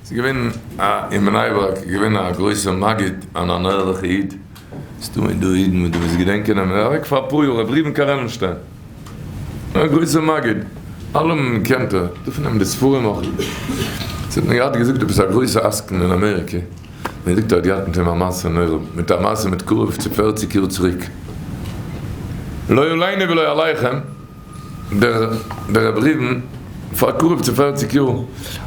ס'איז געווען א אין בני ברק איז געווען א גרויסע מגיד אן אן ערליכע איד ס'דא אין דא אידן וואס דו וועסט געדענקען נעמען ער אוועק פאר אפאר יאר רבי ראובן קארעלנשטיין א גרויסע מגיד אלעמען קענט ער דא פון אים די ספרים אויך ס'האט מיר געהאט געזאגט עפעס א גרויסע עסקן אין אמעריקע ווען זאגט ער האט געהאט מיט אים א מעשה נורא מיט א מעשה מיט קרוב צו פערציג יאר צוריק לא עלינו ולא עליכם. דער רבי ריבן, פאר קרוב צו פערציג יאר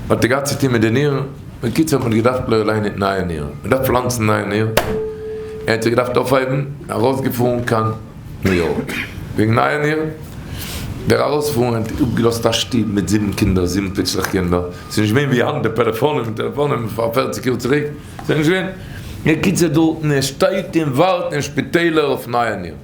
האט ער געהאט צו טון מיט די נירן, בקיצור מען האט געדארפט לייענען נייע נירן, מען דארף פלאנצן נייע נירן, ער האט זיך געדארפט אויפהייבן, ארויסגעפארן קיין ניו יארק וועגן נייע נירן, דער ארויספארן האט אפגעלאזט א שטוב מיט זיבן קינדער, זיבן פיצלעך קינדער, ס'איז נישט געווען ווי היינט די פעלעפאנען און טעלעפאנען פאר פערציג יאר צוריק, ס'איז נישט געווען, בקיצור דארטן ער שטייט און ווארט אין שפיטעלער אויף נייע נירן.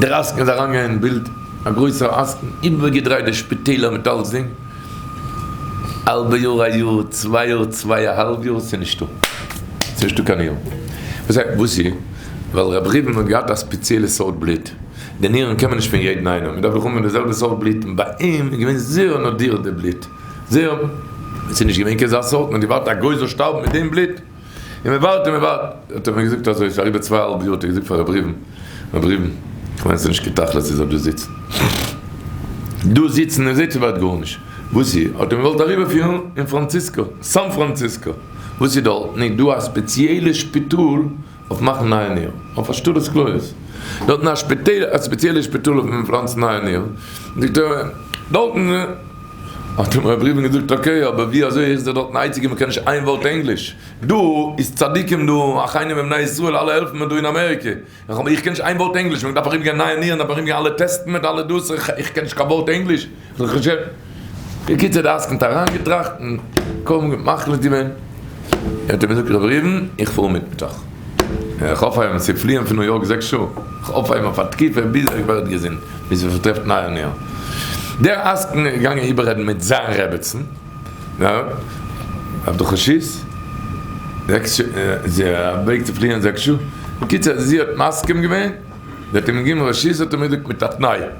דער עסקן איז אריינגעגאנגען אין בילד, א גרויסער עסקן, איבערגעדרייט די שפיטעלער מיט אלסדינג, האלבע יאר א יאר, צוויי יאר צוויי א האלב יאר, ס'איז נישטא, ס'איז נישטא קיין נירן. וואס הייסט וואס איז? ווייל רבי ראובן האט געהאט א ספעציעלע סארט בלוט, די נירן קען מען נישט פון יעדן איינעם, מען דארף דאך האבן די זעלבע סארט בלוט, און ביי אים איז געווען זערא נאדיר די בלוט, זערא, ס'איז נישט געווען קיין אזא סארט, מען האט געווארט א גוי זאל שטארבן מיט דעם בלוט. און מען ווארט און מען ווארט, האט ער מיר געזאגט אזוי, ס'איז אריבער צוויי אהאלב יאר האט ער געזאגט פאר ר' ריבן, ר' ריבן, כ'מיין ס'איז נישט קיין תכלית איר זאלט דא זיצן, דא זיצן און זעהט איר ווערט גארנישט, וואס איר האט אים געוואלט אריבערפירן אין פראנציסקא, סאן פראנציסקא, וואס איז דארטן איז דא א ספעציעלע שפיטאל אויף מאכן נייע נירן, אויף השתלת כליות, דארטן א שפיטעל א ספעציעלע שפיטאל אויפן פלאנצן נייע נירן, זאגט ער דארטן. האט אים ר' ראובן געזאגט אקעי אבער ווי אזוי ער איז דער דארטן אייציגער וואס קען נישט איין ווארט ענגליש דא איז צדיקים דא אחיינים הם בני ישראל אלע העלפן מיר דא אין אמעריקע איך איך קען נישט איין ווארט ענגליש מען דארף ארום גיין נייע נירן ארום גיין אלע טעסטן מיט אלע דאס איך איך קען נישט קיין ווארט ענגליש בקיצור דער עסקן האט אריין געטראכט און מחליט געווען ער האט אים געזאגט ר' ראובן איך פאר מיטוואך. איך האף איהם צו פליען פון ניו יארק זעקס שעה, איך האף איהם אויף א תקופה ביז ער ווערט געזונט, ביז ער טרעפט נייע נער. דער עסקן איז געגאנגען איבעררעדן מיט זיין רעבעצן אויף די חשיס זעקס שעה, זי א וועג צו פליען זעקס שעה, קיצער זי האט מסכים געווען, זי האט איהם געגעבן רשות האט ער מיר געזאגט מיט א תנאי,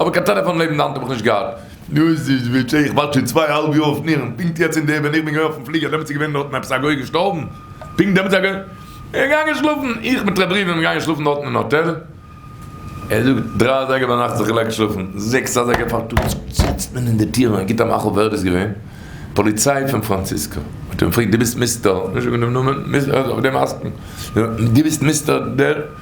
אבער קיין טעלעפאן לעבן די האנט האב איך נישט געהאט. דאס איז ווי צ ע, איך ווארט שוין צוויי אהאלב יאר אויף נירן, פונקט יעצט אין די ווען איך בין געווען אויפן פליגער דעמאלטס איז געווען דארטן עפעס א גוי געשטארבן, פונקט דעמאלטס איז א גוי געגאנגען שלאפן, איך מיט רבי ריבי געגאנגען שלאפן דארטן אין האטעל, ער זאגט דרײַ אזייגער ביינאכט זיך געלייגט שלאפן, זעקס אזייגער פארטאגס זיצט מען אין די טיר און ער גיבט א מאכל ווער דאס געווען? פאליציי פון פראנציסקא, האט ער אים געפרעגט דו ביסט מיסטער, נישט זאגן דעם נאמען, מיס אויף דעם עסקן, דו ביסט מיסטער דער?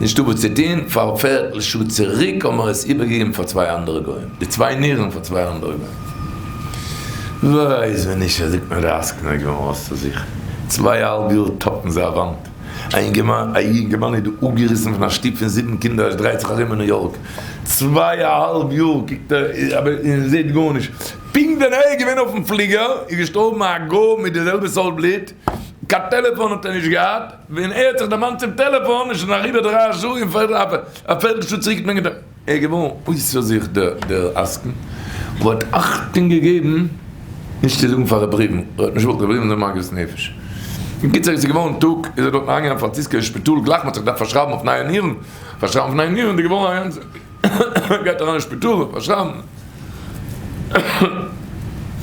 נישטא וואס צו טוהן, פאר פערטל שעה צוריק האבן מיר עס איבערגעגעבן פאר צוויי אנדערע גוים, די צוויי נירן פאר צוויי אנדערע גוים. ווייס ווען נישט זעט מען די עסקן א געוואונען אויסצוזוכן, צוויי אהאלב יאר טאפן זיי א וואנט, א אינגערמאן א יונגערמאן איז דא אפגעריסן פון א שטוב פון זיבן קינדער עס דרייט זיך ארום אין ניו יארק צוויי אהאלב יאר קוקט ער אבער און זעט גארנישט, פונקט ווען ער איז געווען אויפן פליגער איז געשטארבן א גוי מיט די זעלבע סארט בלוט, קיין טעלעפאן האט ער נישט געהאט, ווען ער האט זיך דערמאנט צום טעלעפאן איז שוין אריבער דרײַ שעה און א פערטל שעה צוריק האט מען געדארפט. ער איז געווארן אויסער זיך דער עסקן וואס האט אכטונג געגעבן נישט צו זאגן פאר ר' ראובן ער האט נישט וואלט ר' ראובן זיין מגבית נפש. אין קיצור עס איז געווארן טאג איז ער דארטן אריינגעגאנגען פארן ציסקער שפיטאל גלייך מען האט זיך געדארפט פארשרייבן אויף נייע נירן פארשרייבן אויף נייע נירן איז געווארן אריין. גייט אריין אין שפיטאל פארשרייבן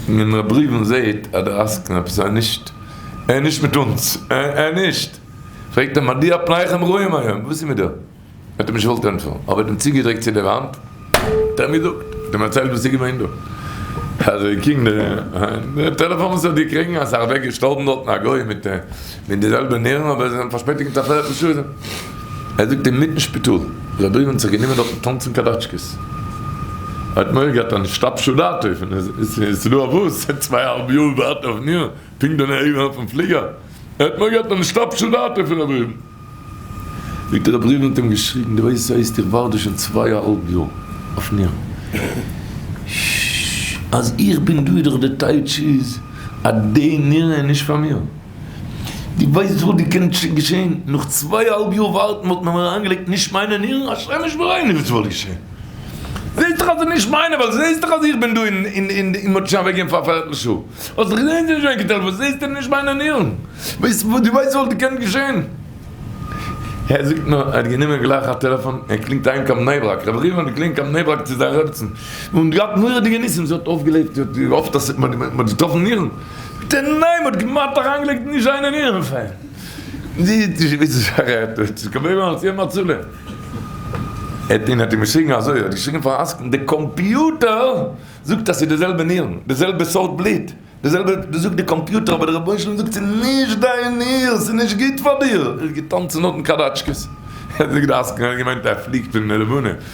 און ר' בריוו און זעהט אז דער עסקן עפעס ער איז נישט ער איז נישט מיט אונז ער איז נישט פרעגט אים מדוע פניכם רעים היום וואס איז מיט דיר האט אים נישט געוואלט ענטפערן אבער האט אים צוגעדריקט צו די וואנט האט ער געזאגט האט אים ערציילט וואס איז געווען דא אז ער קינד די טעלעפאן וואס ער האט געקריגן אז ער אוועק געשטארבן דארטן א גוי מיט. מיט די זעלבע נערוון אבער זיי זענען פארשפעטיגט מיט א פערטל שעה. ער זאגט אינמיטן שפיטאל זיי בריוון זיך גענומען דארטן טאנצן קאדאטשקעס. ער האט מורא געהאט אז נישט אפשו דעתו פון עס איז דא א באס צוויי אהאלב יאר ווארט אויף מיר פונקט דא נעבן אויפן פליגער. ער האט מורא געהאט אז נישט אפשו דעתו פון א בריוון. זאגט ער א בריוון האט אים געשריגן דו ווייסט הייסט איך ווארט דא שוין צוויי אהאלב יאר אויף מיר אז איך בין דא דאך די טייטש איז אז די נערוון איז נישט פאר מיר. דו ווייסט וואס דא קען שוין געשען? נאך צוויי אהאלב יאר ווארטן וואלט מען מיר אריינגעלייגט נישט מיינע נירן? השם ישמרינו וואס וואלט געשען? זעסט דאך אז ס'איז נישט מיינע ווייל זעסט דאך אז איך בין דא אין אין די מ'האט שוין אוועקגעגעבן פאר א פערטל שעה האסט דאך געזען ס'איז שוין געטעלפאט זעסט ס'איז נישט מיינע נירן? ווייסט דו ווייסט וואס דא קען געשען? ער זאגט נאר ער האט גענומען גלייך א טעלעפאן ער קלינגט אהיים קיין בני ברק רבי ראובן האט געקלינגט קיין בני ברק צו זיין רעבעצן און געהאט מורא'דיגע ניסים זי האט אויפגעלעבט זי האט געהאפט אז מ'האט געטראפן נירן. די נעם האט כמעט אריינגעלייגט נישט זיין אין אירן פען. די וויסט וואס איך רעד דא? ס'איז געבליבן אלס יעדן הצלה. עט און עט און געשריגן אזוי, ער האט געשריגן פאר א עסקן, די קאמפיוטער זאגט אז ס'איז די זעלבע נירן, די זעלבע סארט בלוט, די זעלבע, דאס זאגט די קאמפיוטער אבער די רבונו של עולם זאגט ס'איז נישט דיין ניר, ס'איז נישט גוט פאר דיר! ער איז געטאנצן נאכן קאדאטשקעס. ער האט נישט געדארפט עסקן, ער האט געמיינט ער פליגט אין די לבנה.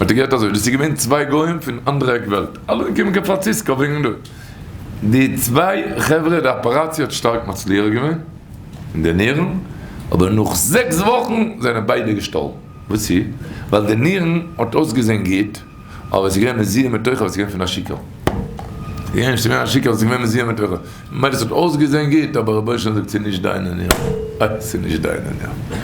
האט ער געהערט אזוי, דאס איז געווען צוויי גוים פון אנדערע עק וועלט, אלע געקומען קיין פראנציסקא וועגן די. די צוויי חברה, די אפעראציע האט שטארק מצליח געווען, און די נירן, אבער נאך זעקס וואכן זענען ביידע געשטארבן, וואס צו, ווייל די נירן האט אויסגעזען גוט, אבער עס איז געווען מזוהם מתוכו, עס איז געווען פון א שיכור, עס איז געווען א שיכור, עס איז געווען מזוהם מתוכו, ממילא עס האט אויסגעזען גוט, אבער רבונו של עולם זאגט ס'איז נישט דיינע נירן, ס'איז נישט דיינע נירן.